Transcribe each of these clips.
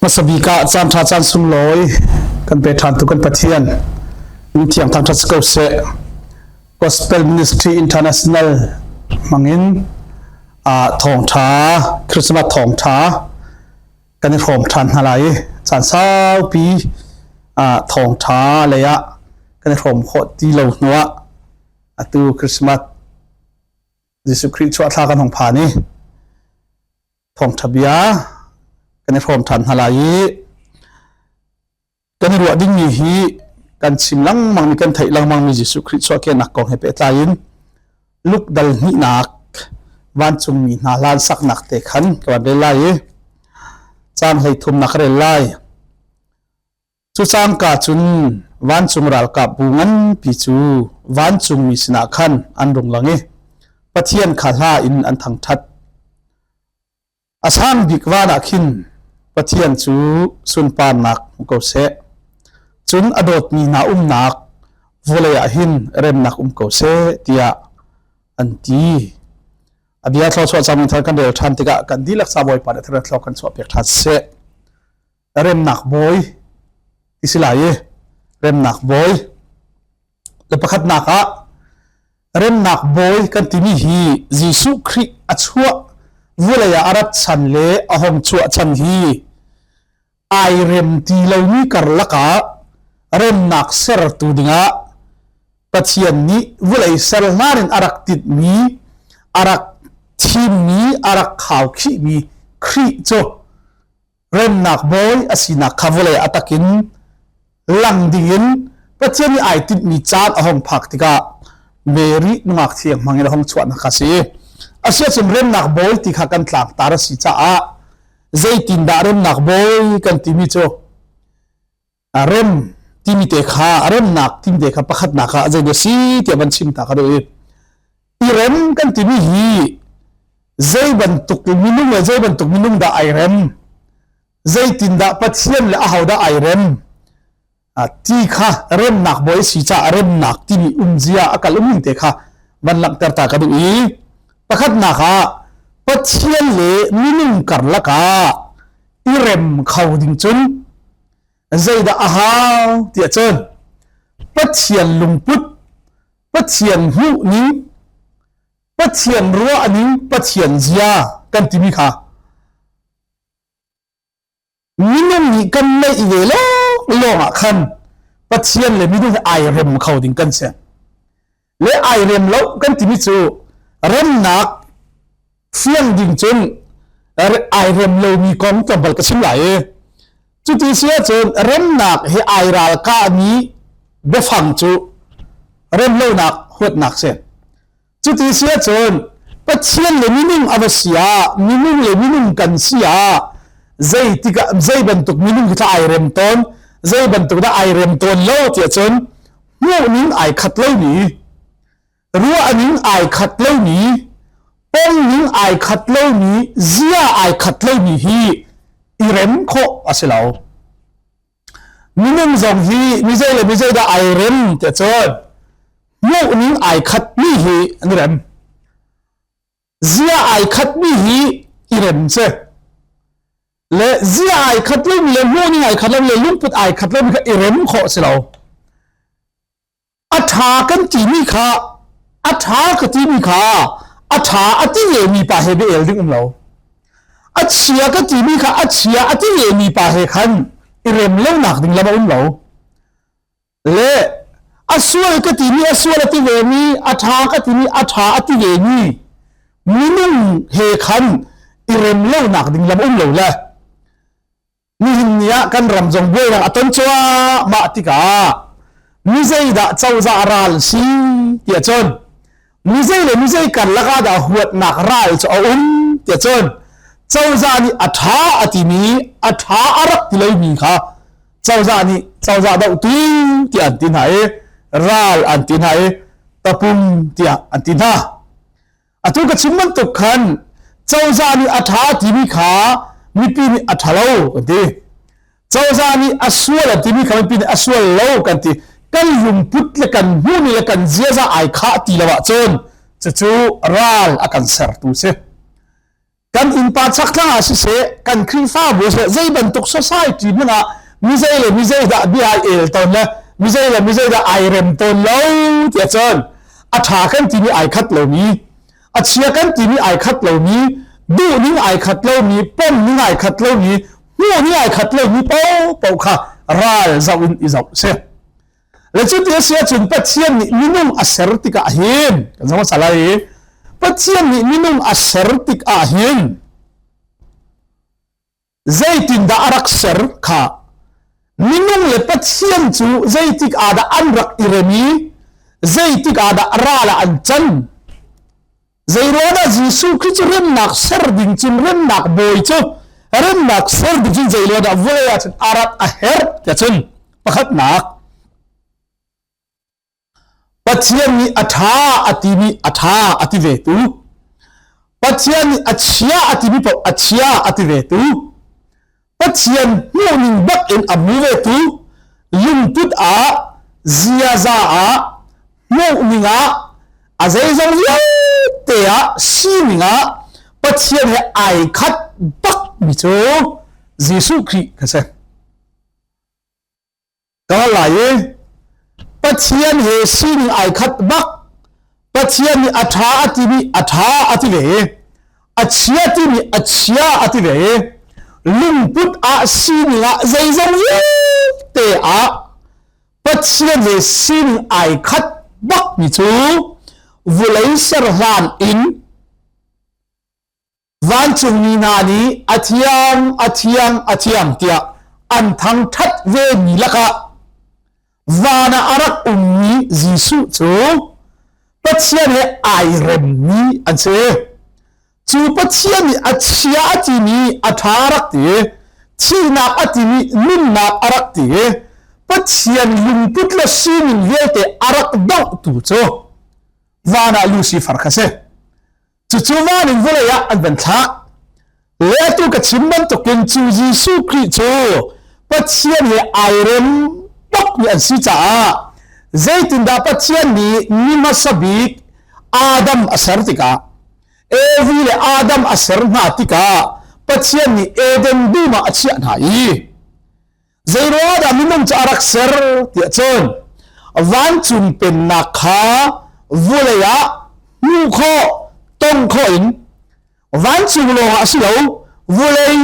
Masabik ah caan ṭha caan sung lawi kan pe ṭhan tu kan Pathian in thiang thang ṭha ko se Gospel Ministry International mangin a thawng ṭha Christmas thawng ṭha kan i hrawm ṭhan hna lai i caan saupi ah thawngṭha lei ah kan i hrawm khawh ti lo hnu ah atu Christmas Jesuh Khrih chuahthla kan hong phan i thawngṭha bia kan i hrawm ṭhan hna lai i kan i ruah dingmi hi kan chim lengmang mi kan theih lengmang mi Jesuh Khrih chuahkehnak kong he pehtlai in Luke dal hnihnak vancungmi hna lan saknak te khan ka van rel lai i caan hlei thumnak rel lai cu cangka cun vancung ralkap bu nganpi cu vancungmi sinah khan an rung lang i Pathian kha hla in an thangṭhat A sang bik van ah khin Pathian cu sunparnak hmu ko seh. Cun a dawtmi hna umnak vawlei ah hin remnak um ko seh tiah an ti. A bia thlo chuah cang thar kan rel ṭhan tikah kan dilak sa bawipa le thar thlo kan chuah pek ṭhan seh. Remnak bawi isi lai i remnak bawi Le pakhatnak ah remnak bawi kan timi hi Jesuh Khrih a chuah vulei ah a rat chan le a hong chuah chan hi ai rem ti lomi karlak ah remnak sertu dingah Pathian nih vulei ser hlan in a rak titmi a rak thimmi a rak khaukhihmi Khrih cu remnak bawi a sinak kha vawlei a takin lang dingin Pathian i ai timhmi caan a hong phak tikah Mary nungak thiang hmangin a hong chuahnak kha si asiacun remnak bawi ti kha kan tlangtar a si caah zeitindah remnak bawi kan timi cu A rem timi te kha a remnak timi te kha pakhatnak ah zei a si tiah van chim ta ka duh i i rem kan timi hi zei bantuk minung le zei bantuk minung dah ai rem zeitin dah pathian le aho dah ai rem ti kha remnak boy si ca remnak timi umzia a kal umning te kha van langhter ta ka duh i pakhatnak ah pathian le minung karlak ah i rem kho ding cun zeidah a hau tiah cun Pathian lungput Pathian hmuhning Pathian ruahning Pathian zia kan timi kha minung nih kan neih ve lawng lawngah khan Pathian le minung ai rem kho ding kan si le ai rem lo kan timi cu remnak fiang ding cun ai rem lomi kong tlawmpal ka chim lai i cuti si ahcun remnak hi ai ralkahmi biafang cu remlonak huatnak si cuti si ahcun pathian le minung a va si ah minung le minung kan si ah zei tikah zei bantuk minung khi tha ai rem tawn zei bantuk dah ai rem tawn lo ti ahcun hmuhning ai khat lomi ruahning ai khat lomi pongning ai khat lomi zia ai khat lomi hi i rem khawh a si lo minung zong hi mizei le mizei dah ai rem te cun hmuhning ai khat mi hi an rem zia ai khatmi hi i rem ce le zia ai khat lomi le hmuning ai khat lomi le lungput ai khat lomi kha i rem khawh si lo a ṭha kan timi kha a ṭha ka timi kha a ṭha a ti mi pa he bia el ding um lo a chia ka timi kha a chia a ti mi pa he khan i rem lo nak ding lam a um lo le a sual ka timi a sual a ti ve mi a ṭha ka timi a ṭha a ti ve mi minung he khan i rem lonak ding lam um lo le nihin ni ah kan ram zong buainak a ton cuahmah tikah mi zeidah cozah ral si ti ahcun mizei le mizei karlak ah dah huatnak ral cu a um tiah cun cozah nih a ṭha a timi a ṭha a rak ti loimi kha cozah nih cozah dohtu tiah an ti hna i ral an ti hna i tapung tiah an ti hna atu ka chim bantuk khan cozah nih a ṭha timi kha mipi nih a ṭha lo kan ti cozah nih a sual a timi kha mipi nih a sual lo kan ti kan lungput le kan hmuhmi le kan ziaza ai khah ti lo ahcun cucu ral a kan sertu si kan innpa chaktlang ah siseh kan khrihfabu siseh zei bantuk society ningah mizei le mizei dah bia ai el ton le mizei le mizei dah ai rem ton lo ti ahcun a tha kan ti mi ai khat lomi a chia kan timi ai khat lomi duh ning ai khat lomi pom ning ai khat lomi hmuh ning ai khat lomi po po kha ral zau in i zau se le cuti a sia cun pathian nih minung a ser tikah hin kan zama salai pathian nih minung a ser tik ah hin Zeitindah a rak ser kha minung le Pathian cu zeitik ah dah an rak i rem i zeitik ah dah ral ah an can zeiruangah Jesuh Khrih cu remnak ser ding cun remnak bawi cu remnak ser ding cun zeiruangah vawlei ah cun arat a herh tiah cun pakhatnak Pathian nih a ṭha a timi a ṭha a ti vetu, Pathian nih a chia a timi paoh a chia a ti vetu, Pathian hmuhning bakin a hmu vetu, lungput ah, ziaza ah, hmuhning ah, a zeizong vialte ah, sining ah Pathian he ai khat bakmi cu Jesuh Khrih kan si. Ka lai i Pathian he sining ai khat bak Pathian nih a ṭha a timi a ṭha a ti ve i a chia timi a chia a ti ve i lungput ah sining ah zeizong vialte ah Pathian he sining ai khat bakmi cu vulei serhlan in vancungmi hna nih a thiang a thiang a thiang tiah an thangṭhat ve mi lakah van ah a rak ummi Jesuh cu Pathian he ai remmi an si cu Pathian nih a chia a timi a ṭha a rak ti thihnak a timi nunnak a rak ti Pathian lungput le sining vialte a rak dohtu cu van ah Lucifer kha si Cucu van in vawlei ah an van thlak. Letu ka chim bantukin cu Jesuh Khrih cu Pathian he ai rem tuk mi an si caah zeitindah Pathian nih ni hmasa bik Adam a ser tikah Evi le Adam a ser hna tikah Pathian nih Eden dum ah a chiah hna i zeiruangah minung cu a rak ser tiah cun vancung pennak kha vulei ah hmuh khawh tong khawh in vancung lawng ah si lo vulei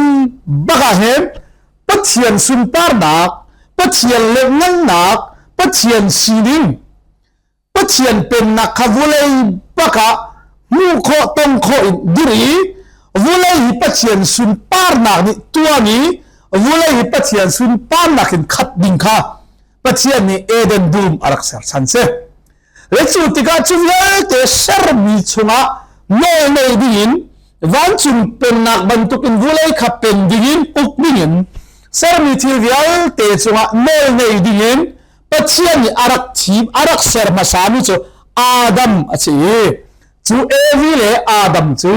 bakah hin Pathian sunparnak Pathian lemngannak Pathian sining Pathian pennak kha vulei bak ah hmuh khawh tong khawh in dir i vulei hi Pathian sunparnak nih tuan i vulei hi Pathian sunparnak in khat ding kha Pathian nih Eden dum a rak serchan si le cu tikah cu vialte sermi chungah nawl nei ding in vancung pennak bantukin vulei kha pen ding in uk ding in sermi thil vialte cungah nawl nei ding in Pathian nih a rak thim a rak ser hmasa mi cu Adam a si i cu Evi le Adam cu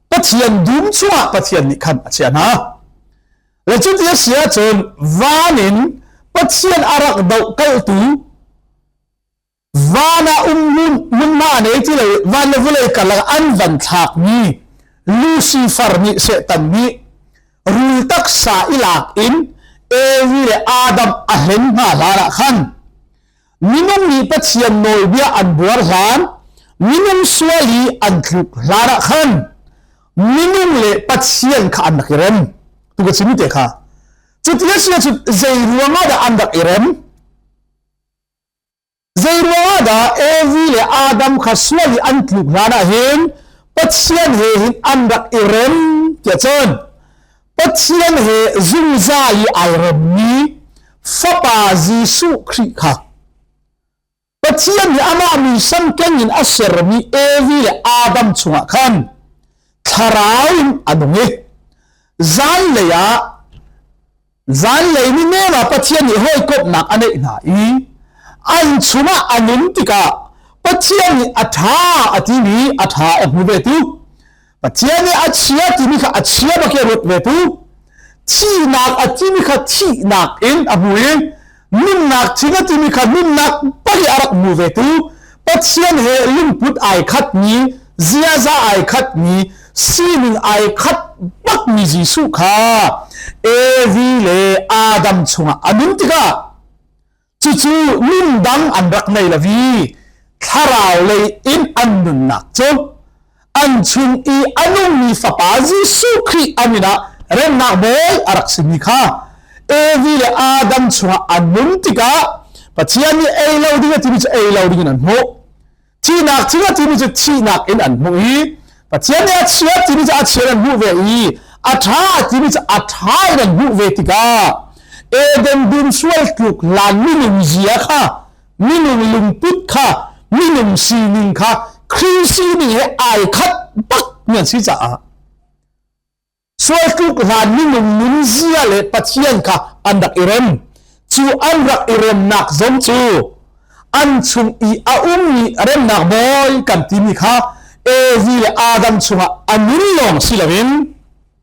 Pathian dum chungah Pathian nih khan a chiah hna le cu ti a si ahcun van in Pathian a rak doh kaltu van ah um nunna nei ti le van le vulei karlak an van thlak mi Lucifer nih Satan nih rul taksa i lak in Evi le Adam a hlen hna hlan ah khan minung nih Pathian nawlbia an buar hlan minung sual i an thluk hlan ah khan minung le Pathian kha an rak i rem tu ka chim te kha cuti a si cu zei ruang ah dah an rak i rem Zeiruangah dah Evi le Adam kha sual i an tluk hlan ah hin Pathian he hin an rak i rem tiah cun Pathian he zungzal i ai remmi fapa Jesuh Khrih kha Pathian nih amah muisam kengin a sermi Evi le Adam chungah khan thlarau in a nung i zanlei ah Zanlei ni men ah Pathian nih hawikomhnak a neih hna i an chungah a nun tikah Pathian nih a ṭha a timi a ṭha a hmu ve tu. Pathian nih a chia timi kha a chia bak in ruat ve tu. Thihnak a timi kha thihnak in a hmu i nunnak chin a timi kha nunnak pei a rak mu ve tu pathian he lungput ai khat ni ziaza ai khat ni sining ai khat bak mi Jesuh kha Evi le Adam chungah a nun tikah cucu nun dang an rak nei lavi thlarau lei in an nunnak cu an chung i a nungmi fapa Jesuh Khrih an inn ah remnak bawi a rak simi kha Evi le Adam chungah an nun tikah Pathian nih ei lo ding a timi cu ei lo ding in an hmuh thihnak thing a timi cu thihnak in an hmuh i Pathian nih a chia timi cu a chia in an hmuh ve i a ṭha a timi cu a ṭha in an hmuh ve tikah Eden dum sual tluk lanmi nunzia kha minung lungput kha minung sining kha Christ nih ai khat bak mi an si caah sual tluk hlan minung nun zia le pathian kha an rak i rem cu an rak i remnak zong cu an chung i a ummi remnak bawi kan timi kha Evi le Adam chungah a nun lawng si loin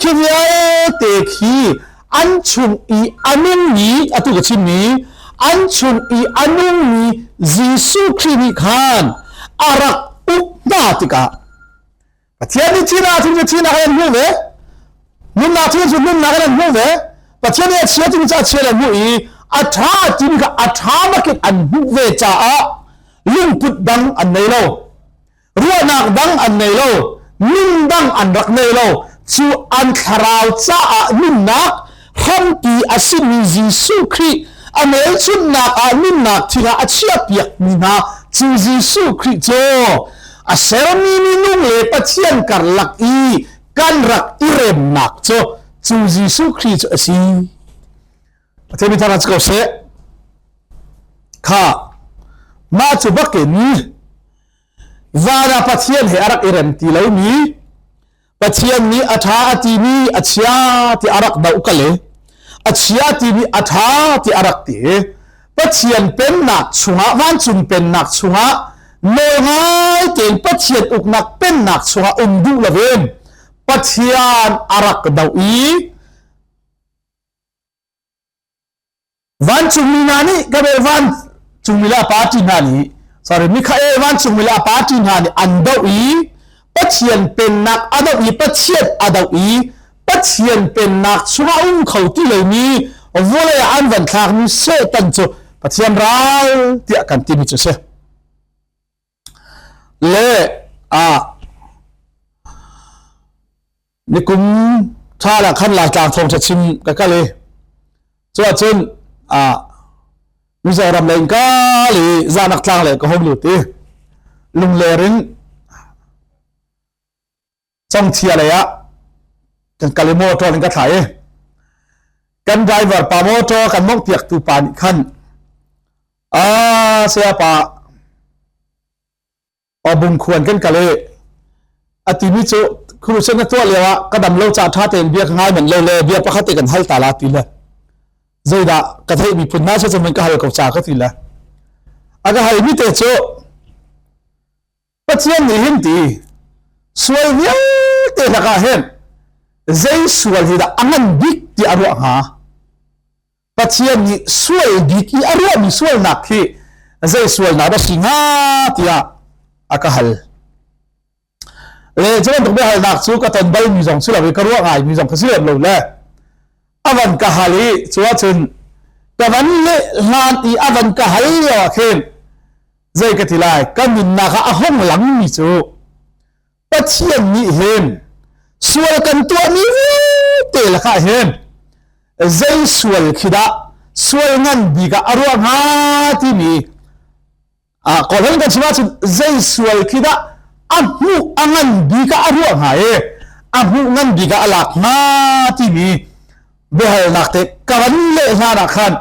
Cu vialte khi an chung i a nungmi atu ka chim mi an chung i a nungmi Jesuh Khrih nih khan a rak uk hna tikah Pathian nih thihnak chung cu thihnak an hmuh ve nunnak chung cu nunnak an hmuh ve Pathian nih a chia chung cu a chia an hmuh i a ṭha tin kha a ṭha bakin an hmuh ve caah lungput dang an nei lo ruahnak dang an nei lo nun dang an rak nei lo cu an thlarau caah nunnak hrampi a simi Jesuh Khrih a nelchunnak ah nunnak thira a chiahpiak mi hna cu Jesuh Khrih cu a sermi minung le Pathian karlak i kan rak i remnak cu cu Jesuh Khrih cu a si Pathian min thangṭhat si ko seh. Kha mah cu bakin zan ah Pathian he a rak i rem ti lomi Pathian nih a ṭha a timi a chia ti a rak doh kal i a chia timi a ṭha ti a rak ti i Pathian pennak chungah vancung pennak chungah nawl ngai tein Pathian uknak pennak chungah um duh lovin Pathian a rak doh i Vancungmi hna nih Gabe vancungmi le party hna nih sorry Mikhael vancungmi le party hna nih an doh i Pathian pennak a doh i Pathian a doh i Pathian pennak chungah um kho ti lomi vawlei ah an van thlakmi Satan cu Pathian ral tiah kan timi cu a si. Leh ah nikum thla ah khan Laitlang thawngṭha chim ka kal i cuahcun Mizoram lei in kal i Zahnak tlang lei ka hung lut i lungler in Congchia lei ah kan kal i motor in ka thlai i kan driver pa motor kan mongh piaktu pa nih khan a saya pa obung khuan kan kal i a timi cu khuruseng ka tuah lio ah ka dam lo ca ṭha tein bia ka ngai man lo le bia pakhat i kan hal ta la ti le zeidah ka theih miphun hna si cun ka hal ko ca ka ti le a ka halmi te cu Pathian nih hin ti sual vialte lakah hin zei sual hi dah a ngan bik ti a ruah hnga Pathian nih sual bik i a ruahmi sualnak hi zei sualnak dah si hnga tiah a ka hal le cu bantuk biahalnak cu ka ton balmi zong si lo i ka ruah ngaimi zong kha si lem lo le a van ka hal i cu ahcun ka van le hlan i a van ka hal lio ah khin Zei ka ti lai, ka nunnak ah a hong langmi cu Pathian nih hin sual kan tuahmi vialte lakah hin zei sual khi dah sual ngan bik ah a ruah hnga timi ah kawlhang kan chim ahcun zei sual khi dah a hmuh a ngan bik ah a ruah hnga i a hmuh ngan bik ah a lak hnga timi biahalnak te ka van leh hlanah khan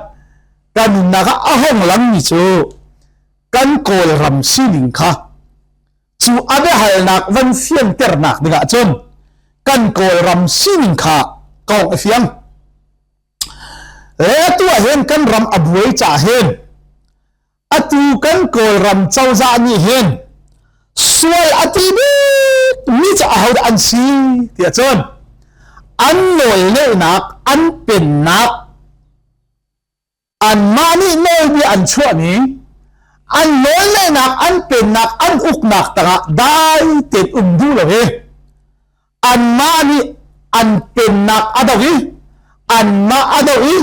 kan nunnak ah a hong langmi cu kan kawlram sining kha cu a biahalnak van fianternak dingah cun kan kawlram sining kha kawk a fiang le tu ahhin kan ram a buai ca hen atu kan kawlram cozah nih hen sual a ti bik mi ca aho an si tiah cun an nawlneihnak an pennak anmah nih nawlbia an chuahmi an nawlngaihnak an pennak an uknak tangah dai tein um duh lo i anmah nih an pennak a do i anmah a do i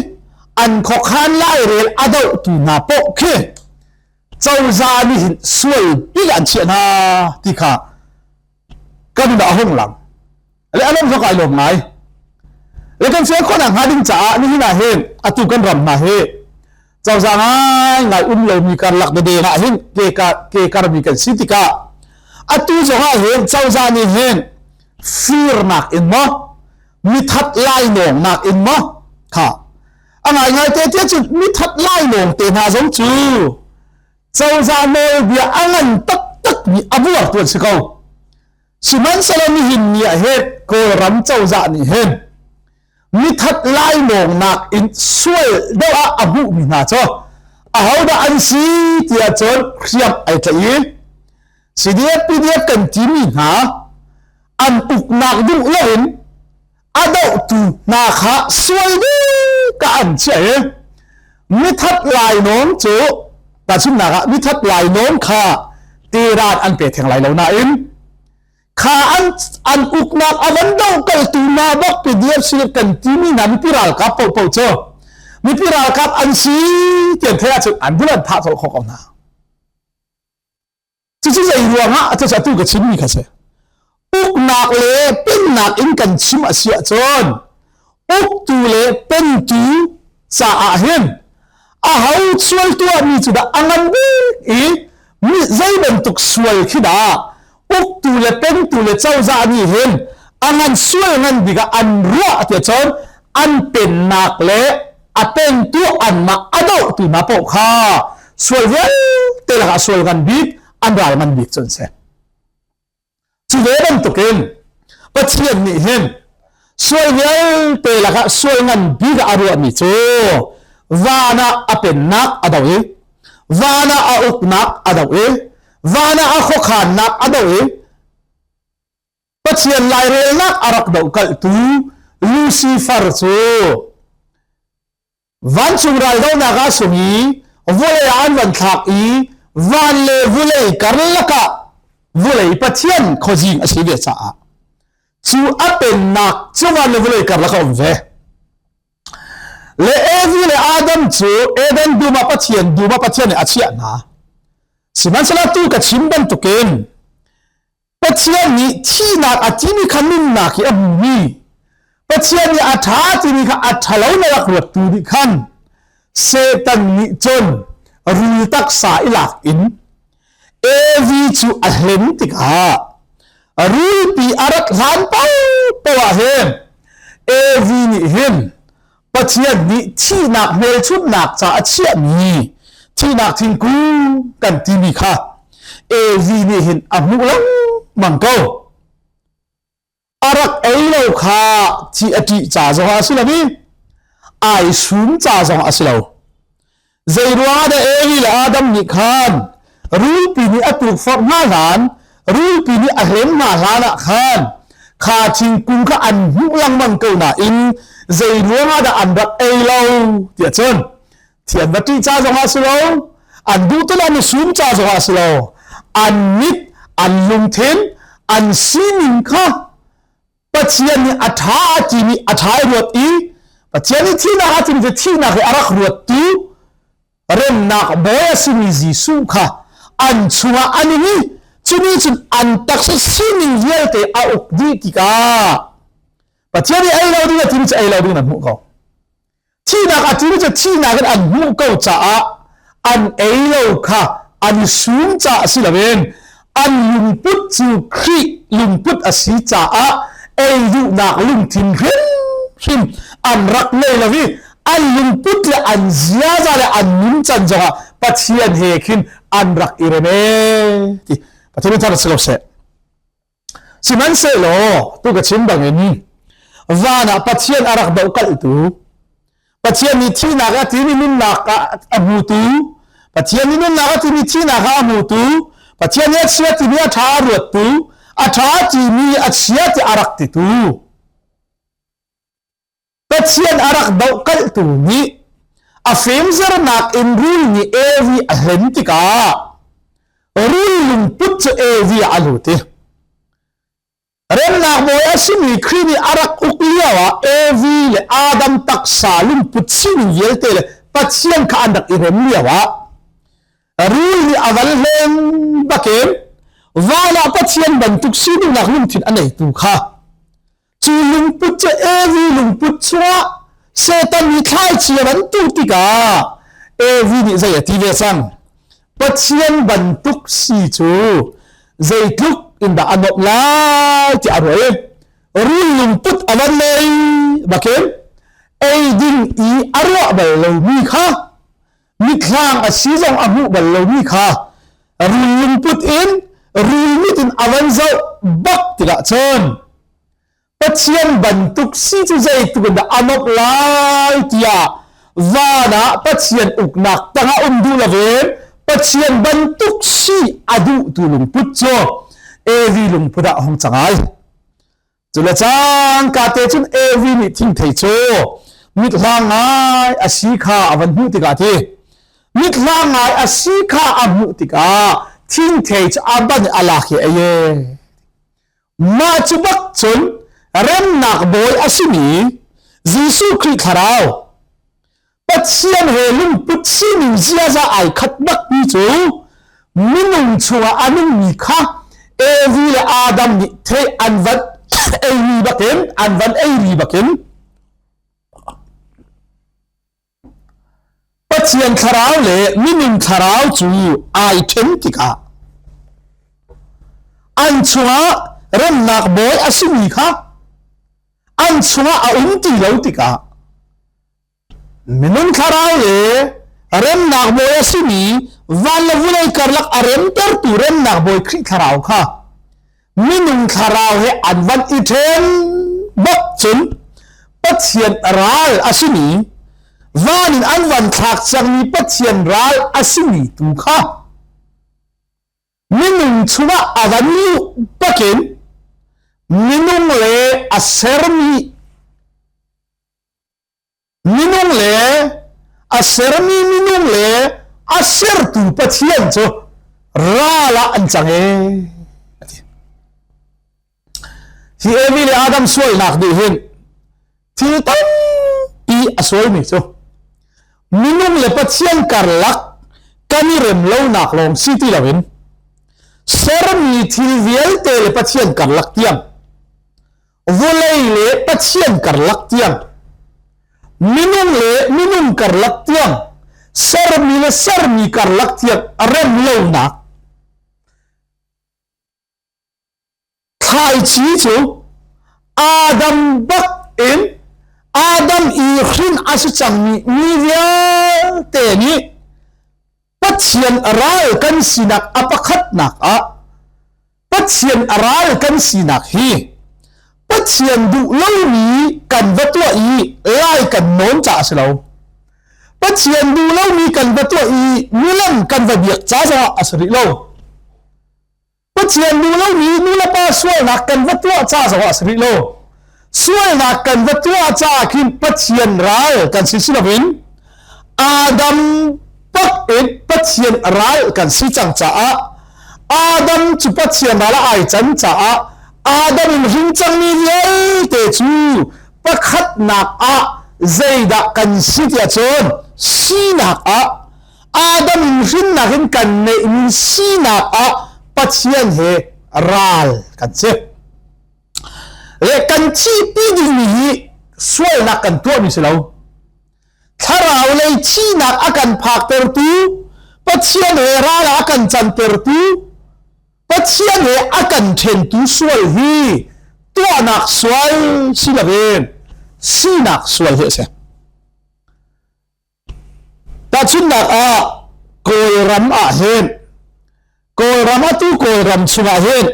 an khuakhan lai rel a dohtu hna poh khi cozah nih hin sual pi an chiah hna ti kha kan dah a hung lang le a lawm zok ai lawm ngai le kan sian khawh nak hnga ding caah nihin ah hin atu kan ram hna hi cozah ngai ngai um lomi karlak dede ah hin ke ka ke karmi kan si tikah atu zong ah hin cozah nih hin firnak in mo mithat lainawng nak in mo ha a ngai ngai te te cun mithat lainawng te hna zong cu cozah nawlbia a ngan taktakmi a buartu an si ko sihmanhsehlaw nihin ni ah he kawlram cozah nih hin mithat laimawngnak in sual deuh ah a hmuhmi hna cu ahodah an si tiah cun hriam ai tlaih i CDF PDF kan timi hna an uknak duh loin a dohtu hna kha sual bika an chiah i mithat lainawn cu tahchunhnak ah mithat lainawn kha teran an pe theng lai lo nain kha an an uknak a van dokaltu hna bak PDF Silip kan timi hna mipi ralkap popo cu mipi ralkap an si tian thela cun an bulan thah chol khawk ko hna Cucu zei ruangah a cacatu ka chimmi kha si. Uknak le pennak in kan chim a si ahcun uktu le pentu caah hin a ho sual tuahmi cu dah a ngan bik i zei bantuk sual khi dah uktu le pentu le cozah nih hin a ngan sual ngan bikah an ruah tiah cun an pennak le a pentu anmah a doh ti ma poh kha sual vialte lakah sual ngan bik an ral ngan bik cu an si cu ve bantukin pathian nih hin sual vialte lakah sual ngan bik a ruahmi cu van ah a pennak a do i van ah a uknak a do i van ah a khuakhannak a do i Pathian lairelnak a rak dokalhtu Lucifer cu vancung raldonak ah sung i vawlei ah an van thlak i van le vulei karlak ah vulei pathian khuazing a si ve caah cu a pennak cu van le vulei karlak a um ve le Evi le Adam cu Eden dum ah pathian dum ah pathian nih a chiah hna sihmanhsehlaw tu ka chim bantukin Pathian nih thihnak a timi kha nunnak hi a hmumi Pathian nih a ṭha timi kha a ṭhalo na rak ruattu nih khan Satan nih cun rul taksa i lak in Evi cu a hlen tikah rulpi a rat hlan paoh paoh ah hin Evi nih hin Pathian nih thihnak hmelchunhnak ca a chiahmi thihnak thingku kan timi kha AV nih hin a hmuh lengmang ko. A rak ei lo kha thi a ṭih ca zong ah a si lo i ai sum ca zong a si lo. Zeiruangah dah Eli le Adam nih khan rulpi nih a tukforh hna hlan, rulpi nih a hlen hna hlan ah khan kha thingkung kha an hmuh lengmang ko nain zeiruangah dah an rak ei lo tiah cun thian va ṭih ca zongah si lo an duh tilo an i sum ca zongah si lo an mit an lungthin an sining kha Pathian nih a ṭha a timi a ṭha i ruat i Pathian i thihnak ahcun ve thihnak he a rak ruat tu remnak bawi a simi Jesuh kha an chungah an in i cuni cun an taksa sining vialte a uk dih tikah Pathian i ei lo ding a timi cu ei lo ding na hmuh ko. thihnak a ṭin cu thihnak in an hmuh ko caah an ei lo kha an sum caah si loin an lungput cu Khrih lungput a si caah ei duhnak lungthin hrimhrim an rak ngei lo i an lungput le an ziaza le an nuncan zongah Pathian he khin an rak i rem e ti Pathian in thar si lo seh Sihmanhsehlaw tu ka chim bangin van ah Pathian a rak dohkalhtu Pathian nih thihnak a timi nunnak a hmutu Pathian nih nunnak a timi thihnak a hmutu Pathian nih a chia timi a ṭha a ruattu a ṭha timi a chia ti a rak titu Pathian a rak dohkalhtu nih a fimzernak in rul nih Evi a hlen tikah rul lungput cu Evi ah a lut i remnak bawi a simi Khrih nih a rak uk lio ah Evi le Adam taksa lungput sining vialte le Pathian kha an rak i rem lio ah rul nih a van hlen bakin van ah Pathian bantuk sining nak lungthin a neitu kha cu lungput cu Evi lungput chungah Satan nih thlaici a van tuk tikah Evi nih zei a ti ve cang Pathian bantuk si cu zeitluk in dah a nuamh lai ti a ruai rul lungput a van lei bakin eidin i a ruah bal lomi kha mitthlang a si zong a hmuh bal lomi kha rul lungput in rul mit in a van zoh bak tikah cun Pathian bantuk si cu zeituk in dah a nawp lai tiah van ah Pathian uknak tangah um duh lo ve Pathian bantuk si a duhtu lungput cu evi lungput ah hong cangai Cu le caan ka te cun Evi nih thingthei cu mithlang ngai a si kha a van hmuh tikah ti mithlang ngai a si kha a hmuh tikah thingthei cu a ban a lak hi a ye mah cu bak cun remnak bawi a simi Jesuh Khrih thlarau Pathian he lungput sining ziaza ai khat bakmi cu minung chungah a nungmi kha Evi le Adam nih thei an van eiri bakin an van eiri bakin Pathian thlarau le minin thlarau cu ai then tikah an chungah remnak bawi a simi kha an chungah a um ti lo tikah Minung thlarau le remnak bawi a simi van le vulei karlak a remtertu remnak bawi Khrih thlarau kha minung thlarau he an van i ṭhen bak cun Pathian ral a simi van in an van thlak cangmi Pathian ral a simi tu kha minung chungah a van luh bakin minung le a sermi Minung le a sermi minung le a sertu Pathian cu ral ah an cang e. Hi Evi le Adam sualnak nih hin thil tampi a sualmi cu minung le Pathian karlak kan i rem lonak lawng si ti loin sermi thil vialte le Pathian karlak tiang vulei le pathian karlak tiang minung le minung karlak tiang sermi le sermi karlak tiang rem lonak thlaici cu adam bak in adam i hrin a si cangmi mi vialte nih Pathian a ral kan sinak a pakhatnak ah Pathian a ral kan sinak hi Pathian duh lomi kan va tuah i lai kan nawn ca a si lo. Pathian duh lomi kan va tuah i nulam kan va biak ca zongah a si rih lo. Pathian duh lomi nulepa sualnak kan va tuah ca zongah a si rih lo. Sualnak kan va tuah caah khin Pathian ral kan si si loin Adam pak in Pathian ral kan si cang caah Adam cu Pathian ral ah ai can caah Adam in hring cangmi vialte cu pakhatnak ah zeidah kan si tiah cun sinak ah Adam in hrinnak in kan neihmi sinak ah Pathian he ral kan si. Le kan thihpi dingmi hi sualnak kan tuahmi si lo. Thlarau lei thihnak a kan phaktertu, Pathian he ral a kan cantertu, Pathian he a kan thentu sual hi tuahnak sual si lo in sinak sual hi a si. Tahchunhnak ah, Kawlram ah hin Kawlram atu Kawlram chungah hin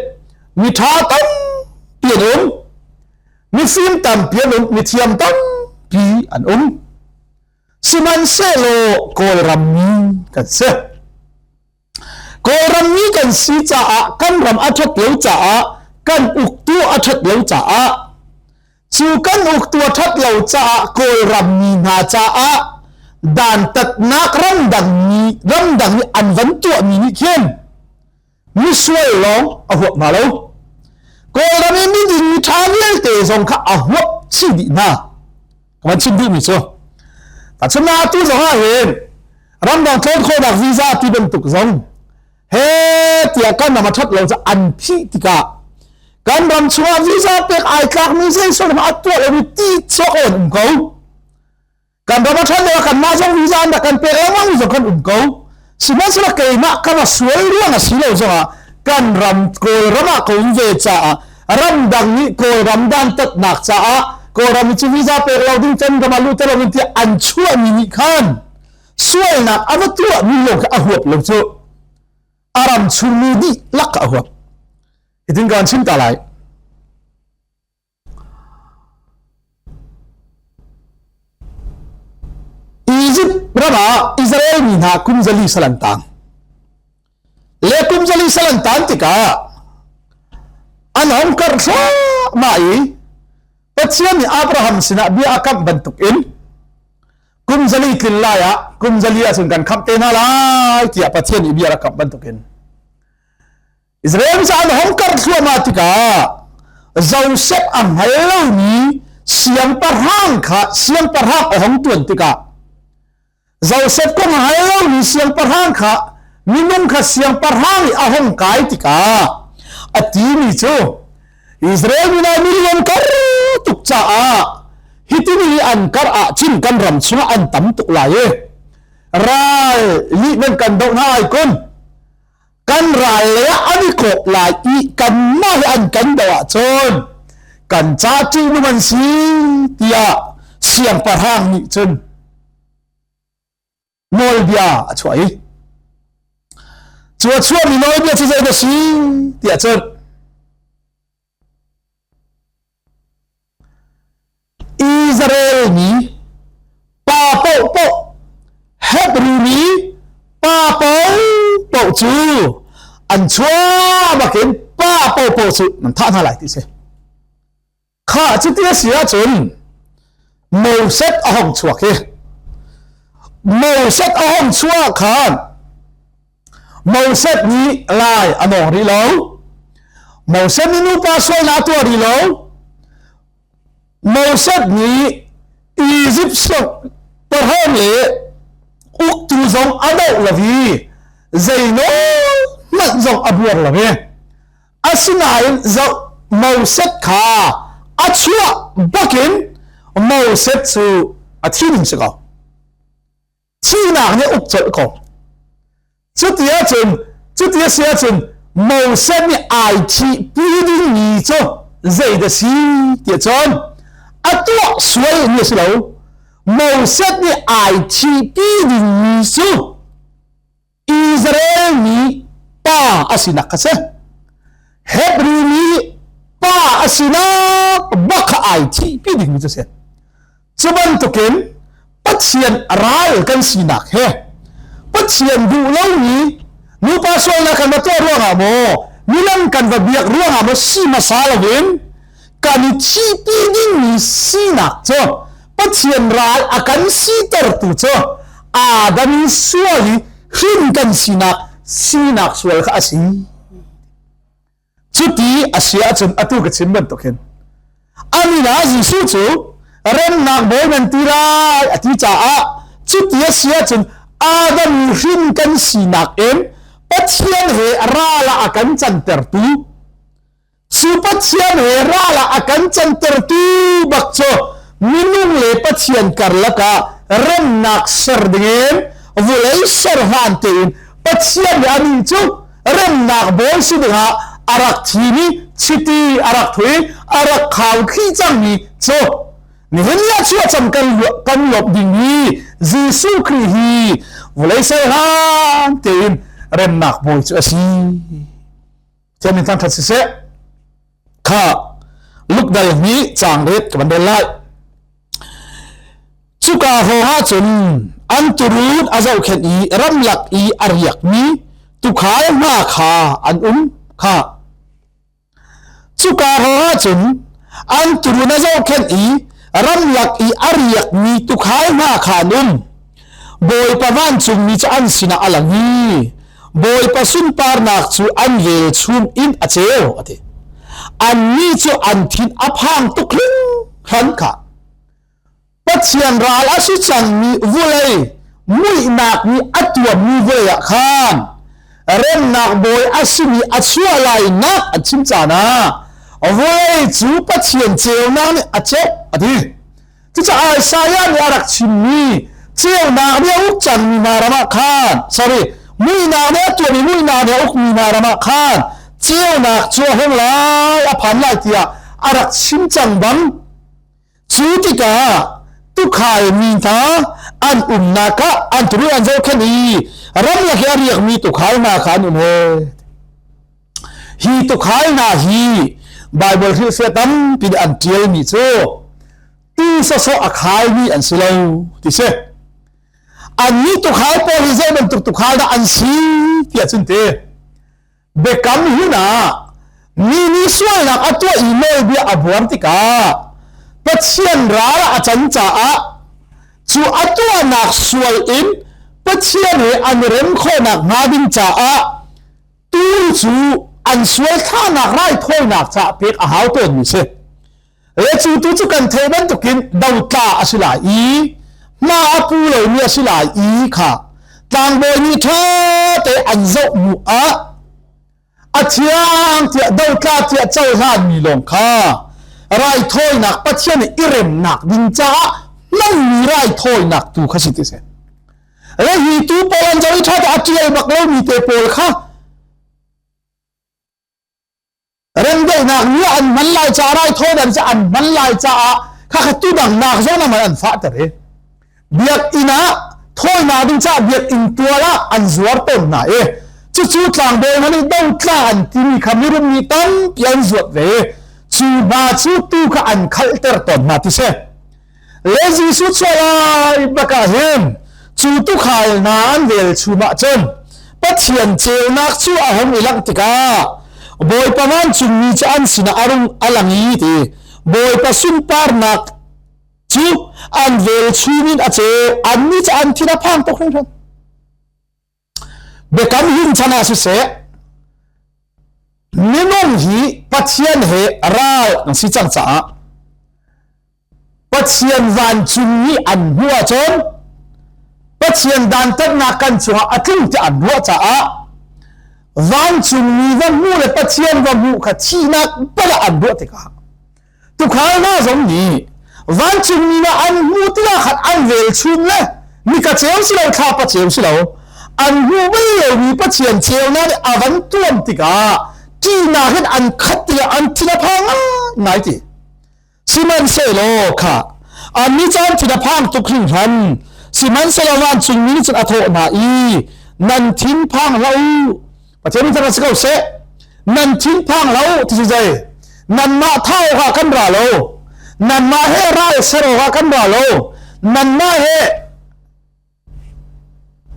miṭha tampi an um. Mifim tampi an um, mithiam tampi an um. Sihmanhsehlaw Kawlram mi kan si. Kawlrammi kan si caah kan ram a ṭhat lo caah kan uktu a ṭhat lo caah cu kan uktu a ṭhat lo caah Kawlrammi hna caah dantatnak ramdangmi ramdang i an van tuahmi nih khin misual lawng a huap hna lo. Kawlram i miding mi ṭha vialte zong kha a huap chih dih hna. kan chim duhmi cu asinain tu zong ah hin ramdang tlawn khawhnak visa ti bantuk zong he tiah kan ram a that lo cu an thih tikah kan ram chungah visa pek ai tlakmi zeisor hma tuah lomi ti chuak on um ko kan ram a that lo kan mah zong visa an dah kan pek lengmang zong kan um ko sihmanhsehlaw keimah ka va sual ruang a si lo zongah kan ram kawlram ah ka um ve caah ramdang nih kawlram dantatnak caah kawlram cu visa pek lo ding can ram ah luta lo in tiah an chuahmi nih khan sualnak a va tuahmi lawng kha a huap lo cu a ram chungmi nih lak a huap hitin kan chim ta lai Izipt ram ah Israel mi hna kum zali sal an tang. Le kum zali sal an tan tikah an hong kar ma i Pathian nih Abraham sinah bia a kamh bantuk in kum zali tlin lai ah kum zali ah cun kan khamh te hna lai tiah Pathian nih bia a kamh bantuk in Israel mi caah na hong karh thluahmah tikah Joseph a hngal lomi siangpahrang kha siangpahrang a hong tuan tikah Joseph kong a hngal lomi siangpahrang kha minung kha siangpahrang nih a hong kai tikah a timi cu Israel mi nih milion kar tuk caah hitini an kar ah cun kan ram chungah an tam tuk lai i ral lih nan kan doh hna ai kun kan ral le ah an i kawp lai i kanmah he an kan do ahcun kan ca ṭihnung an si tiah siangpahrang nih cun nawlbia a chuah i cu a chuah mi nawlbia cu zei na si tiah cun Israel mi pa paohpaoh het riri pa paohpaoh cu an chuahbak in pa paohpaoh cu nan thah hna lai ti si kha cu ti a si ahcun Moses a hong chuak i Moses a hong chuah khan Moses nih lai a nawng rih lo. Moses nih nupa sualnak a tuah rih lo. Moses nih Egypt pahom le uktu zong a doh lo i zeinawl hmanh zong a buar lo i asinain zoh Moses kha a chuah bakin Moses cu a thin si ko. thihnak nih uk colh ko cuti ahcun cuti a si ahcun Moses nih ai thihpi dingmi cu zeidah si ti cun a tuah sualmi a si lo Moses nih ai thihpi dingmi cu Israel mi pa a sinak a si. Hebrew mi pa a sinak bakha ai thihpi dingmi cu si. Cu bantukin Pathian ral kan sinak he Pathian duh lomi nupa sualnak kan va tuah ruangah maw milam kan va biak ruangah maw si hmasa loin kan i thihpi dingmi sinak cu Pathian ral a kan sitertu cu Adam sual i hrin kan sinak sinak sual kha a si cuti a si ahcun atu ka chim bantuk hin ani na Jesuh cu remnak bawi nan ti lai a ti caah cuti a si ahcun Adam hrin kan sinak in Pathian he ral ah a kan cantertu Cu Pathian he ral ah a kan cantertu bak cu minung le Pathian karlak ah remnak ser dingin vulei serhan tein Pathian le a min cu remnak bawi si dingah a rak thimi chiti a rak thui a rak khau thli cangmi cu nihin ya chu cham kan kan lop dingmi Jesuh Khrist hi vulei serhan tein remnak bawi cu a si Cem in thangthat siseh kha Luke dal hi chang ret ka ban lai cuka ho ha cun an turun a zohkhet i ramlak i a riak mi tukhal hna kha an um kha cuka ho ha cun an turun a zohkhet i ramlak i a riak mi tukhal hna kha an um Bawipa vancungmi cu an sinah a lang i Bawipa sunparnak cu an velchum in a ceu a ti annih cu an thin a phang tuk hran kha Pathian ral a si cangmi vulei muihnak nih a tuammi vulei ah khan remnak bawi a simi a chuah lainak an chim caan ah vulei cu Pathian ceunak nih a ceuh a ti Cucaah Isaiah nih a rak chimmi ceunak nih a uk cangmi hna ramah khan sorry muihnak nih a tuahmi muihnak nih a ukmi hna ramah khan ceunak cu a hung lai a phan lai tiah a rak chim cang bang cu tikah tukhai mi hna an umnak ah an turu an zohkhenh i ram le he a riakmi tukhai hna kha an um he Hi tukhal hna hi Baibal hrilhfiah tampi an ṭialmi cu ti sawsawh a khaimi an si lo ti si. Annih tukhal pawl hi zei bantuk tukhal dah an si tiah cun ti biakam hun ah mi nih sualnak a tuah i nawlbia a buar tikah Pathian ral a can caah cu a tuahnak sual in Pathian he an rem khawhnak hnga ding caah tu cu an sual thlanak raithawinak caah pek a hau tawnmi si le cu tu cu kan thei bantukin dotla a si lai i hma a pu lomi a si lai i kha tlangbawi nih ṭha te an zoh mu ah a thiang tiah dotla tiah cohlanmi lawng kha raithawinak pathian i remnak ding caah hmanmi raithawinak tu kha si ti si le hi tu paul an zong tha a tial bak lo mi te paul kha rengdeuhnak ni an man lai ca rai thaw dan an man lai caah kha kha tu dang nak zong man an fa tare biak ina thawina ding cha biak in tuala an zuar ton na e chu chu tlang bo mani do tla an timi kha mirum ni tam pian zuat ve chu ba chu tu kha an khal ter ton na ti se le Jesuh chuah lai bak ah hin cu tukhal hna an vel chum ah cun Pathian ceunak cu a hom i langh tikah Bawipa vancungmi cu an sinah a rung a lang i ti Bawipa sunparnak cu an vel chum in a ceu anni cu an thin a phang tuk hringhran biakam hin chan ah siseh minung hi pathian he ral an si cang caah pathian vancung i an hmu ahcun pathian dantatnak kan cungah a tling ti an ruah caah vancung mi va hmu le pathian va hmu kha thihnak bal an ruah tikah tukhal hna zong nih vancungmi na an hmuh tiah khan an vel chun le nika ceu si lo thlapa ceu si lo an hmu mai lomi pathian cheu na nih avan tuam tikah ṭihnak hin an khat tiah an thin a phang ngai ti sihmanhsehlaw kha an ni caan thin a phang tuk hrin hran sihmanhsehlaw vancungmi nih cun a thawh hna i nan thin phang hlah u Pathian nih cang si ko seh nan thinphang lo ti cu zei nanmah tha awkah kan ra lo nanmah he ral ser awkah kan ra lo nanmah he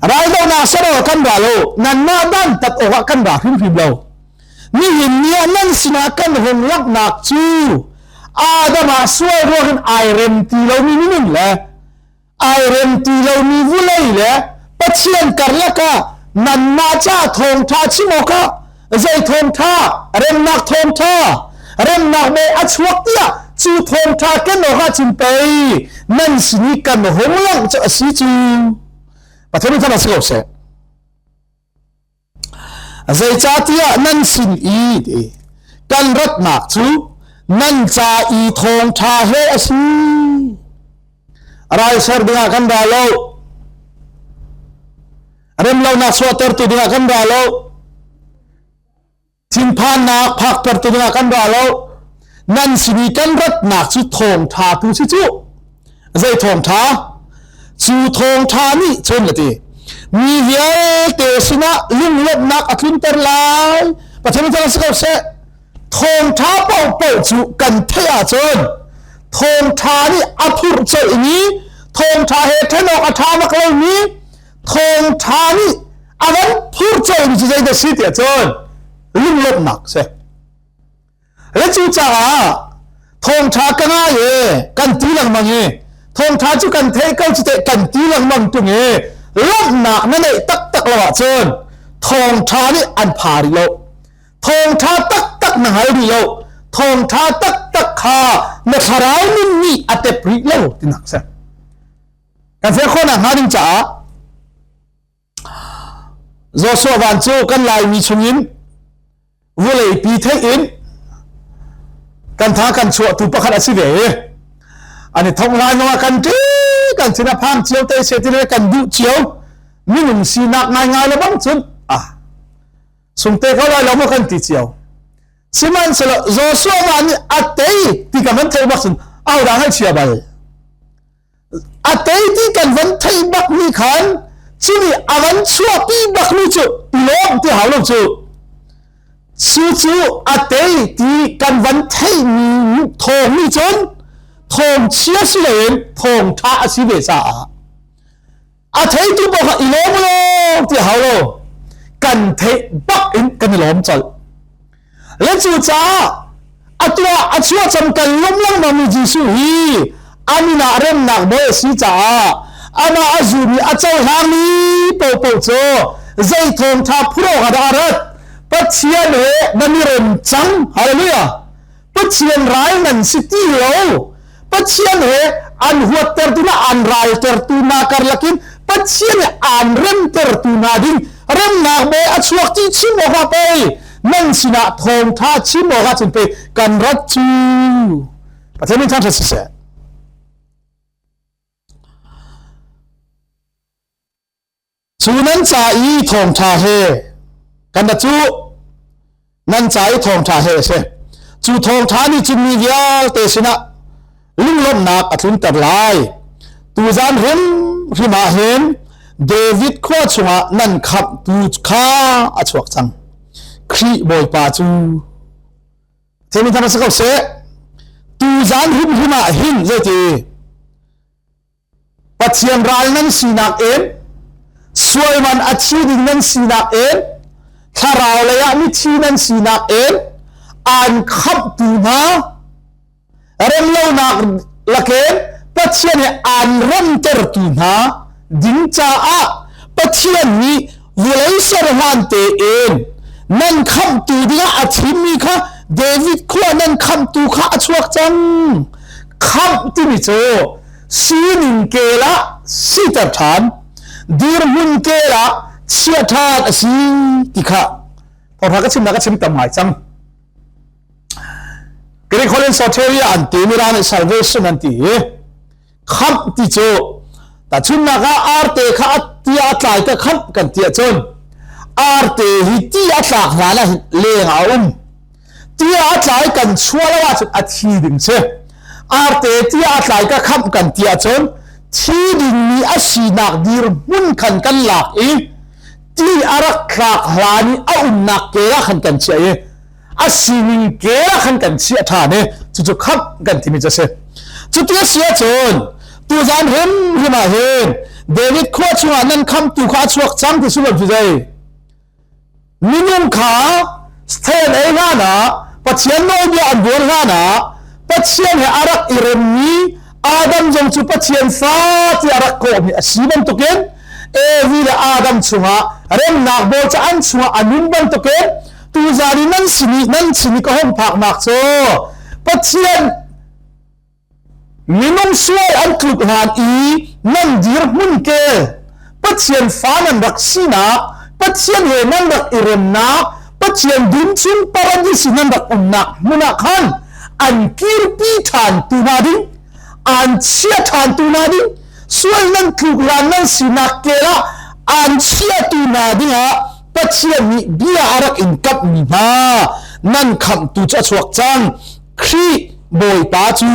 raldohnak ser awkah kan ra lo nanmah dantat awkah kan ra hrimhrim lo nihin ni ah nan sinah kan hung laknak cu Adam ah sual ruangin ai rem ti lomi minun le ai rem ti lomi vulei le pathian karlak ah nanmah ca thawngtha chim awk ah zei thawngtha remnak thawngtha remnak me a chuak tiah cu thawngtha ken awk ah cun pei nan sin i kan hung langh cu a si cu pathian in than a si ko seh Zeicahtiah nan sin i kan ratnak cu nan ca i thawngṭha he a si. Raisar dingah kan ra lo. Remlonak chuahtertu dingah kan ra lo. thinphannak phakter tu dingah kan ra lo nan simi kan ratnak cu thawngtha tu si cu zei thawngtha cu thawngtha nih chun lati mi vialte sinah lunglawmhnak a tlunter lai pathian thang si ko se thawngtha pau pau cu kan theih ahcun thawngtha nih a phurh colh i thawngtha he thenawk a tha bak lomi thawngtha nih a van phur cawlmi cu zeidah si tiah cun lunglawmhnak si le cu caah thawngtha ka ngai e kan ti lengmang i thawngtha cu kan theih ko cu teh kan ti lengmang tung i lawmhnak na neih taktak lo ahcun thawngtha nih an pha rih lo thawngtha taktak na hal rih lo thawngtha taktak kha na thlarau nun nih a tep rih lo tinak si kan fek khawhnak hnga ding caah Joshua van cu kan laimi chungin vulei pi theih in kan tha kan chuahtu pakhat a si ve ani thong lai zongah kan ti kan sin a phang cio te se ti kan duh cio minung sinak ngai ngai lo bang cun ah sungte ko lai lo mo kan ti cio sihmanhselo Joshua van nih a tei ti ka man thei bak cun au dang hai chia bal a tei ti kan van thei bak ni khan chumi a van chuahpi bak ni cu lawm ti halo cu su cu a tei ti kan van thei mi thong ni cun thong chia si loin thong tha a si ve sa ah a theitu pakhat i lawm law ti hau lo kan theih bak in kan i lawm colh le cu caah a tuah a chuah cam kan lawm lengmang mi Jesuh hi an inn ah remnak bawi a si caah amah a zum i a cohlangmi popo cu zei thawngtha phur awk dah a rat Pathian he nan i rem cang hallelujah Pathian ral nan si ti lo Pathian he an huattertu na an raltertu na karlakin Pathian he an remtertu na ding remnak me a chuak ti chim awka pei nan sinah thawngtha chim awka cun pei kan rat cu Pathian min thansa siseh Cu nan ca i thawngṭha he kan ra cuh nan ca i thawngṭha he a si. Cu thawngṭha nih cun mi vialte sinah lunglawmhnak a tlunter lai. Tuzan hrimhrim ah hin David khua chungah nan khamhtu kha a chuak cang. Khrih Bawipa cu themi thang ra si ko seh. Tuzan hrimhrim ah hin zeiti Pathian ral nan sinak in sualman a thi ding nan sinak in thlarau lei ah mithi nan sinak in an khamhtu hna remlonak lakin Pathian i an remtertu hna ding caah Pathian nih vawlei serhan tein nan khamhtu dingah a thimmi kha David khua nan khamhtu kha a chuak cang khamh timi cu sining kel ah siter ṭhan dirhmun kel ah chia ṭhan a si ti kha Porha ka chimnak ka chim tam ngai cang Greek Holland Soteria an ti mirang nih salvation an ti i khamp ti cu tahchunnak ah arte kha ti a tlai te khamp kan ti ahcun arte hi ti a tlak hlan ah leng a um tia a tlai kan chua lo ahcun a thi ding si arte tia a tlai ka khamh kan ti ahcun thi dingmi a sinak dirhmun khan kan lak i ti a rak tlak hlan i a umnak kela khan kan chia i a sining kela khan kan chia ṭhan i cucu khamh kan timi cu si cuti a si ahcun tuzan hrim hrim ah hin david khua chungah nan kham tu kha a chuak cang ti sunglaw cu zei Minung kha stand ei hlanah Pathian nawlbia an buar hlanah Pathian he a rak i remmi Adam zong cu Pathian sa tiah rak kawhmi a si bantukin Evi le Adam chungah remnak bawl cu an chungah an um bantukin tuzan i nan sin i nan sin i ka hung phaknak cu Pathian Minung sual an tlut hlan i nan dirhmun ke Pathian fa nan rak sinak Pathian he nan rak i remnak Pathian dum chung paradis nan rak umnak hmun ah khan an kirpi ṭhan tu hna ding an chia ṭhan tu hna ding sual nan tluk hlan nan sinak ke ah an chiatu hna dingah Pathian nih bia a rak in kamhmi hna nan khamhtu cu a chuak cang Khrih Bawipa cu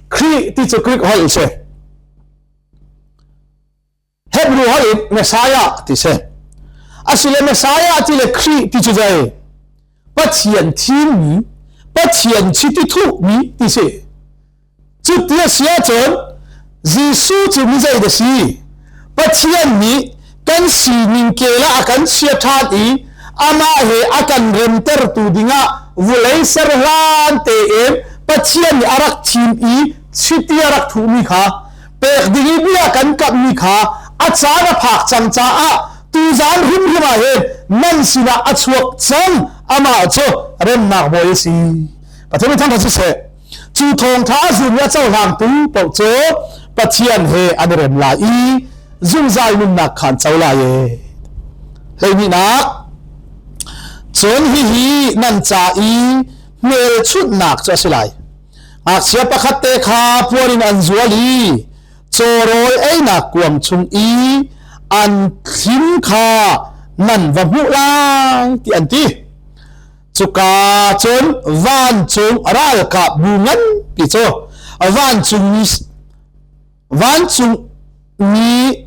Khrih ti cu Greek holh a si. Hebrew holh in Messiah ti si. Asile Messiah ti le Khrih ti cu zei? Pathian thimmi, Pathian chiti thuhmi ti si. Cuti a si ahcun Jesuh cu mi zei da si? Pathian nih kan sining kel ah a kan chia ṭhan i amah he a kan remtertu dingah vulei ser hlan tein Pathian nih a rak thim i chiti a rak thuhmi kha pek ding i bia kan kamhmi kha a caan a phak cang caah tuzan hrimhrim ah hin nan sinah a chuak cang amah cu remnak bawi a si Pathian min thangṭhat siseh Cu thawngtha a zun a cohlangtu paoh cu Pathian he an i rem lai i zungzal nunnak khan co lai e. Hleihninak cun hihi nan ca i hmelchunhnak cu a si lai. Ngakchia pakhat te kha puan in an zual i cawrawi einak kuang chung i an thlim kha nan va hmuh lai ti an ti. cuka cun vancung ralkapbu nganpi cu vancung mi vancung mi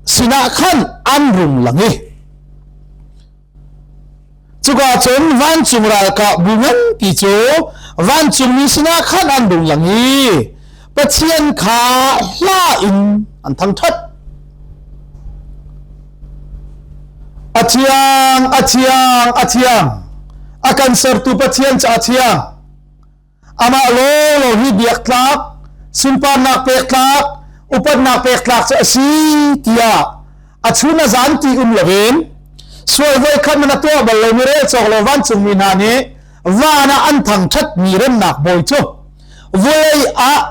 sinah khan an rung lang i cuka cun vancung ralkapbu nganpi cu vancung mi sinah khan an rung lang i Pathian kha hla in an thangṭhat. A thiang, a thiang, a thiang. A kan sertu Pathian ca thiang. Amah lawlaw hi biak tlak, sunparnak pek tlak, upatnak pek tlak cu a si tiah a chun a zan ti um loin sual voi khat na tuah bal lo mi rel cawk lo vancungmi hna nih van ah an thangṭhat mi remnak bawi cu Vulei ah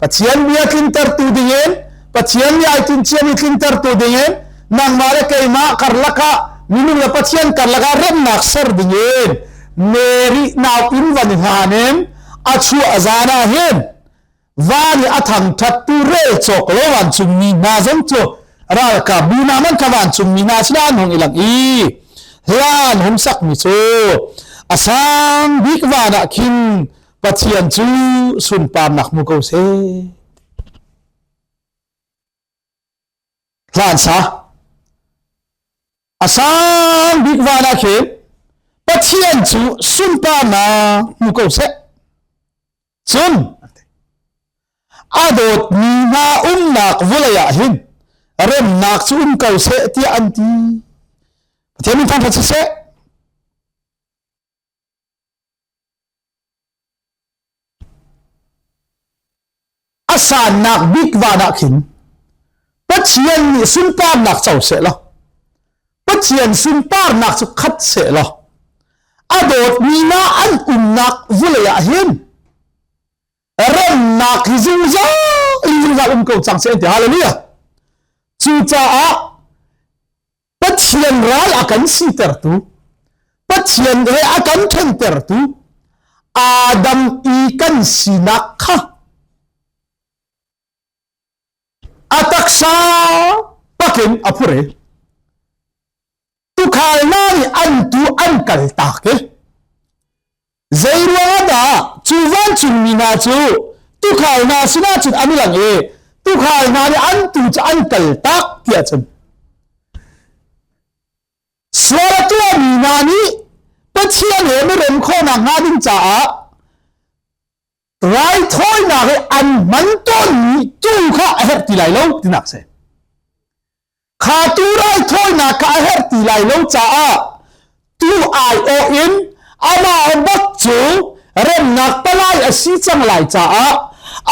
Pathian bia tlintertu dingin Pathian nih ai tinciam i tlintertu dingin nangmah le keimah karlak ah minung le Pathian karlak ah remnak ser dingin Mary naupin van hlan in a chu a zan ah hin van i a thangthattu rel cawk lo van chungmi hna zong cu ralkap bu na man kha van chungmi hna si an hong ilang i hlan hum sakmi cu a sang bik van ah khin Pathian cu sunparnak hmu ko seh. Hlansa a sang bik van ah khin Pathian cu sunparnak hmu ko seh. Cun a dawtmi hna umnak vulei ah hin remnak cu um ko seh tiah an ti. Pathian min thangṭhat siseh. A sannak bik van ah khin Pathian nih sunparnak co seh law Pathian sunparnak cu khat seh law a dawtmi na an umnak vulei ah hin remnak hi zungzal in zungzal um ko cang seh ti hallelujah cucaah Pathian ral a kan sitertu, Pathian he a kan ṭhentertu, Adam i kan sinak kha a taksa pakin a phur i tukhal hna nih an tu an kal tak i Zeiruangah dah cu vancungmi hna cu tukhal hna sinah cun an i lang i tukhal hna nih an tu cu an kal tak tiah cun sual a tuahmi hna nih Pathian he na rem khawh nakhnga ding caah raithawinak i an hman tawnmi tu kha a herh ti lai lo tinak si kha tu raithawinak kha a herh ti lai lo caah tu aiawh in amah bak cu remnak palai a si cang lai caah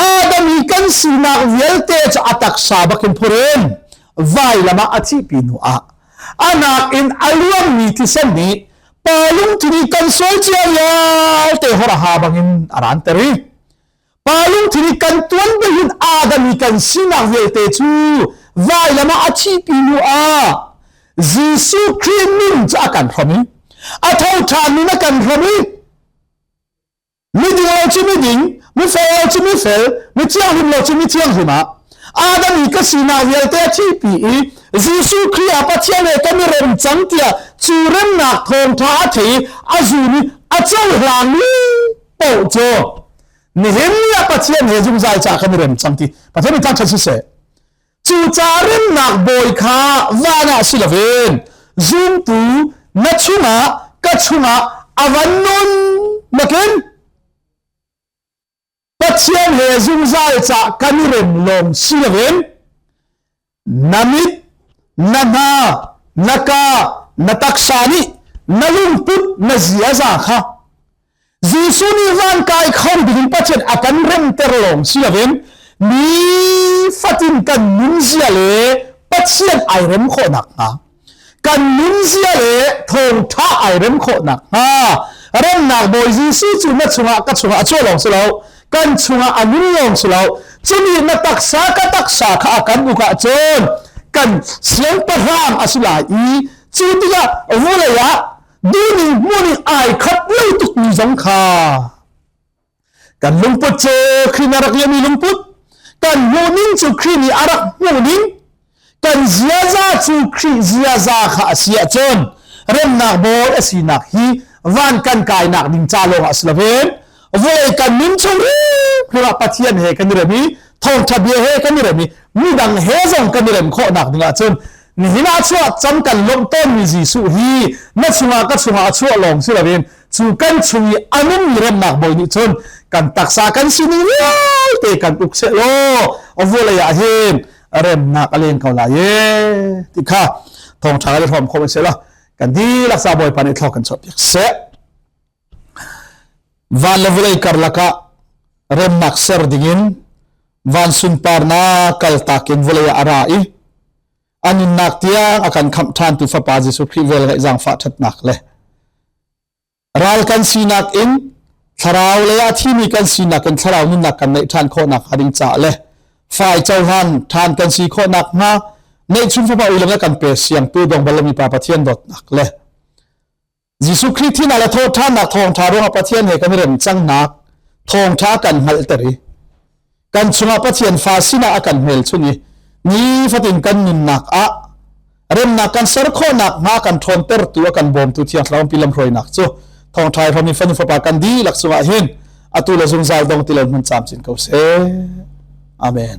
adam i kan sinak vialte cu a taksa bakin phurin vai lama a thihpi nu ah a nakin a luangmi thisen nih pa lungthin i kan sual cia vial te hora ha bangin aran ter i pa lungthin i kan tuan behin adam i kan sinak vialte cu vai lama a thi pi lu ah Jesuh Christ min cu a kan hrom i a tho ṭhan min a kan hrom i Miding lo cu miding, mifel lo cu mifel, mi thianghlim lo cu mi thianghlim ah. Adam i ka sinak vialte a thipi i Jesuh Khrih a Pathian he kan i rem cang tiah cu remnak thawngtha a thei i a zun i a cohlangmi paoh cu nihin ni ah Pathian he zungzal ca kan i rem cang ti Pathian i thangṭhat siseh. Cucaah remnak bawi kha van ah si loin zumtu na chungah ka chungah a van nun nakin Pathian he zungzal ca kan i rem lawng si loin na mit na hna na ka na taksa nih na lungput na ziaza kha Jesuh nih van kai kho ding Pathian a kan remter lawng si loin ni fatin kan nunzia le Pathian ai rem khawh nakhnga kan nunzia le thawngtha ai rem khawh nakhnga remnak Bawi Jesuh cu na chungah ka chungah a chuah lawng si lo kan chungah a nung lawng si lo chumi na taksa ka taksa kha a kan uk ah cun kan siangpahrang a si lai i cu tikah vawlei ah Duning hmuning ai khat lo tuk mi zong kha kan lungput cu khrin arak liami lungput kan hmuning cu khrin i arak hmuning kan ziaza cu khrin ziaza kha asiah cun remnak bol asinak hi van kan kainak ding ca lawng a si loven voi kan nun chung riak pathian he kan i rem i thawngtha bia he kan i rem i midang he zong kan i rem khawhnak ding ah cun nihin ah chuah cam kan lawmh tawnmi Jesuh hi na chungah ka chungah a chuah lawng si loin cu kan chung i a nungmi remnak bawi nih cun kan taksa kan sin i vialte kan uk seh law a vawlei ah hin remnak a len ko lai e ti kha thawngṭha le hrawm khawm seh law kan dilaksa bawipa nih thla kan chuah piak seh Van le vawlei karlak ah remnak ser dingin van sunparnak kaltak in vawlei ah a ra i a nunnak tiang a kan khamh ṭhantu Fapa Jesuh Khrih vel ngaih zaangfah ṭhatnak le ral kan sinak in thlarau le a thimi kan sinak in thlarau nunnak kan neih ṭhan khawhnak hnga ding caah le fai cohlan ṭhan kan si khawhnak hnga neihchun Fapa u le kan pe siangtu dong bal mi Pa Pathian dawtnak le Jesuh Khrih thihnak le thawhthannak thawngtha ruangah Pathian he kan i rem cang nak thawngtha kan hngalhter i kan chungah Pathian fa sinah a kan hmelchunh i nifatin kan nunnak ah remnak kan ser khawhnak hnga kan ṭhawntertu a kan bawmtu thiang thlarau pi lamhruainak cu thawngtha i hromi fanu fapa kan dihlak chungah hin atu le zungzal dong ti lo hmun camcin ko seh amen